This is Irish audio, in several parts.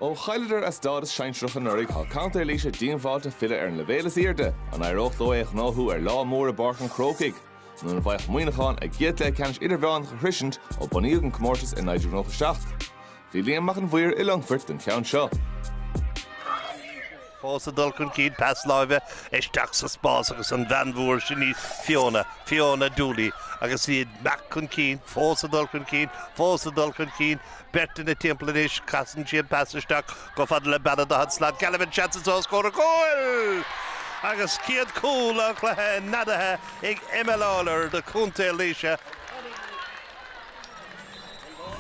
Ó chailleadar a stádas sinsearach anuraidh, tá contae Laoise díongbháilte filleadh ar an leibhéal is airde. An éireodh leo é a ghnóthú ar lá mór i bPáirc an Chrócaigh? Nó an bhféadfadh Muineachán a gcéad cluiche ceannais idirmheánach a shroisint ó bunaíodh an comórtas i 1997? Bhí Liam Mac an Mhaoir i Longfort don cheann seo. fós ag dul chun cinn, pas láimhe isteach sa spás agus an bhean mhór sin í Fiona, Fiona Dooley, agus í ag imeacht chun cinn, fós ag dul chun cinn, fós ag dul chun cinn, beirt ina timpeall anois, casann sí an pas isteach chomh fada le bean an daichead slat, Galvin seans anso, os comhair an chúil! Agus céad cúl an chluiche neadaithe ag Emma Lawlor do Chontae Laoise.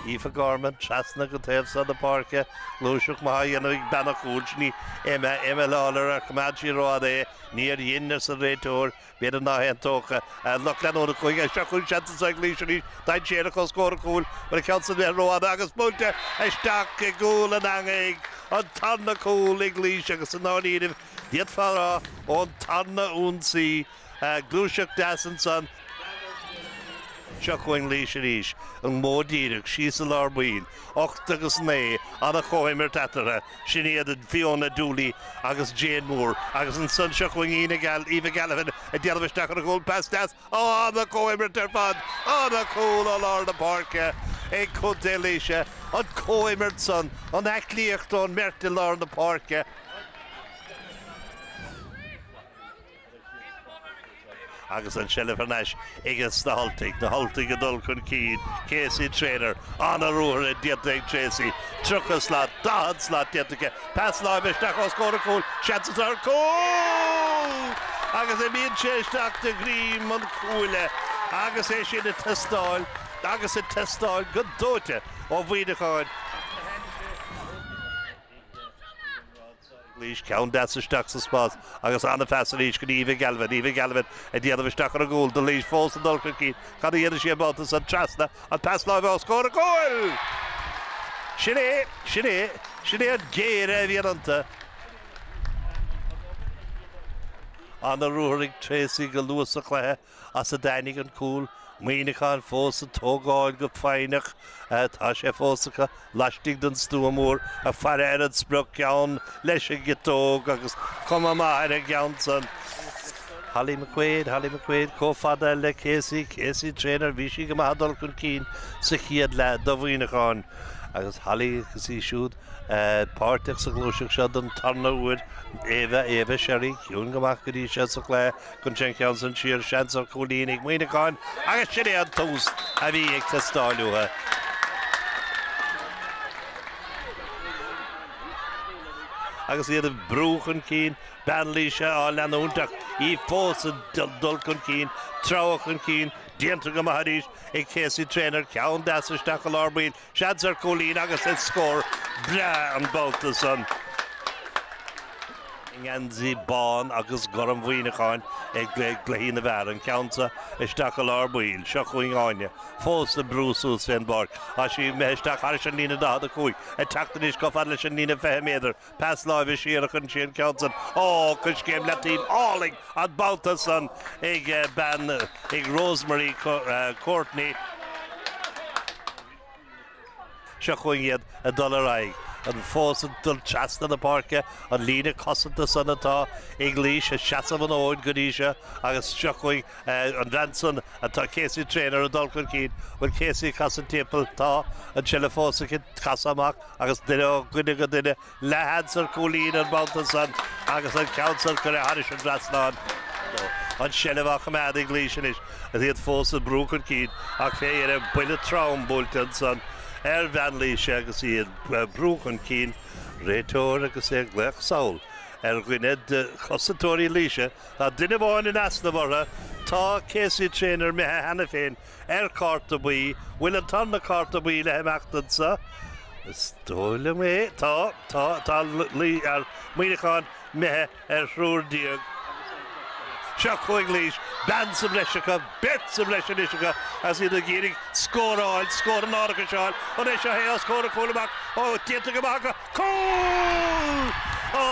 Aoife Gorman, trasna go taobh so na páirce, gluaiseacht maith á dhéanamh ag bean an chúil, sin í Emma, Emma Lawlor, ar choimeád sí rófhada é, níor dhein, arsa an réiteoir, b'fhéidir ná haontóchadh a lucht leanúna cúige, anseo chugainn seans anseo ag Laois arís, dainséarach os comhair an chúil, mar a cheann san bheith rófhada agus buailte isteach i gcúl an eangaigh, an tarna cúl ag Laois agus i ndáiríribh, d'fhéadfá a rá, ón tarna ionsaí. Gluaiseacht deas ansan. Seo chugainn Laois arís, an modh díreach, síos i lár baill. Ocht agus naoi, an-chomhimirt eatarthu. Sin iad Fiona Dooley agus Jane Moore. Agus ansan seo chugainn Ina Gal, Eva Galvin ag déanamh isteach ar an gcúl. Pas deas. Ó, an-chomhimirt ar fad. An-chúl ó lár na páirce ag Contae Laoise. An comhimirt san, an aclaíocht ón mbeirt i lár na páirce. agus an tseilbh thar n-ais aiges na hUltaigh, na hUltaigh ag dul chun cinn, Casey Treanor, an-ruathar déanta ag Tracey, 30 slat, 40 slat déanta aici, pas láimhe isteach os comhair an chúil, seans atá ar chúl! agus imíonn sé isteach de dhroim an chuaille agus é sin ag teastáil agus ag teastáil go dóite ó Mhuineacháin. Laois ceann deas isteach sa spás agus an-phas arís go dtí Eva Galvin. Eva Galvin ag déanamh isteach ar an gcúl. Do Laois fós ag dul chun cinn. Cad a dhéanfaidh sí an babhta san? Trasna, an pas láimhe os comhair an chúil! Sin é, sin é, sin é an géire a bhíonn iontu. An-ruathar ag Tracey go luath sa chluiche. as a dtáinig an cúl. Muineachán fós ag tógáil go foighneach tá sé fós acu, laistigh den stua mór ag faire ar an sprioc, ceann leis an gciotóg agus cuma maith ar an gceann san. Holly McQuaid, Holly McQuaid, chomh fada le Casey, Casey Treanor, bhí sí go maith ag dul chun cinn sa chéad leath do Mhuineachán agus Holly agus í siúd páirteach sa ghluaiseacht seo don tarna uair. Éabha, Éabha Sherry, ciúin go maith go dtí seo sa chlár. Chuir sí an ceann san siar, seans ar chúilín ag Muineacháin agus sin é an tús a bhí ag teastáil uathu. Agus iad ag brú chun cinn, bean Laoise á leanúint ach í fós ag dul chun cinn, ag treabhadh chun cinn, déanta go maith arís ag Casey Trainor ceann deas isteach i lár baill Seans ar chúilín agus is scór breá an babhta san. I ngeansaí bán agus gorm Mhuineacháin ag Cluichí na bhFear, an ceann seo isteach i lár baill. Seo chugainn Áine, fós ag brú suas fén bpáirc. Tá sí imithe isteach thairis an líne 45, ag teacht anois chomh fada leis an líne 20 méadar. Pas láimhe siar a chuir sí an ceann san. Ó, coiscéim leataoibh álainn an babhta san ag bean, ag Rosemary Courtney. Seo chugainn iad ag dul ar aghaidh. Iad fós ag dul trasna na páirce, an líne cosanta san atá ag Laois ag seasamh an fhóid go dtí seo agus seo chugainn an bhean san atá, Casey Traynor, ag dul chun cinn. Bhuel, Casey, casann timpeall. Tá an tseilbh fós acu. Casadh amach. Agus ó dhuine go duine, leathsheans ar chúilín an babhta san agus an ceann san curtha thairis an dtrasnáin. An seilbh á choimeád ag Laois anois, is iad fós ag brú chun cinn, ach fé dheireadh buille trom buailte ansan ar bhean Laoise agus í ag brú chun cinn réiteoir agus é ag glaoch sall ar dhuine de chosantóirí, Laois, tá duine amháin in easnamh orthu, tá Casey Traynor imithe cheana féin. ar Chárta Buí. Bhfuil an tarna Cárta Buí le himeacht anso? Is dóigh liom é. Tá, tá, tá anois Muineachán imithe ar thriúr déag. Seo chugainn Laois. Bean sa bhreis acu, beirt sa bhreis anois acu agus iad ag iarraidh scór a fháil, scór an árachais a fháil. An é seo é os comhair an chúil amach? Ó, déanta go maith acu. Cúl! Ó!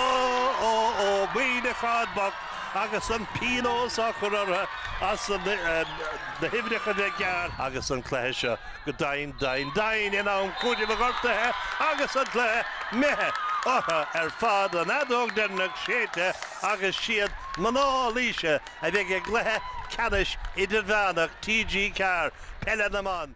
Ó! Ó! Muineachán bocht agus an pionós á chur orthu as na huimhreacha a bheith gearr agus an cluiche seo go doimhin, doimhin, doimhin in am cúitimh do ghortuithe agus an cluiche imithe orthu ar fad, an fheadóg deireanach séidte agus is iad mná Laoise a bheidh i gcluiche ceannais idirmheánach TG4 peile na mban.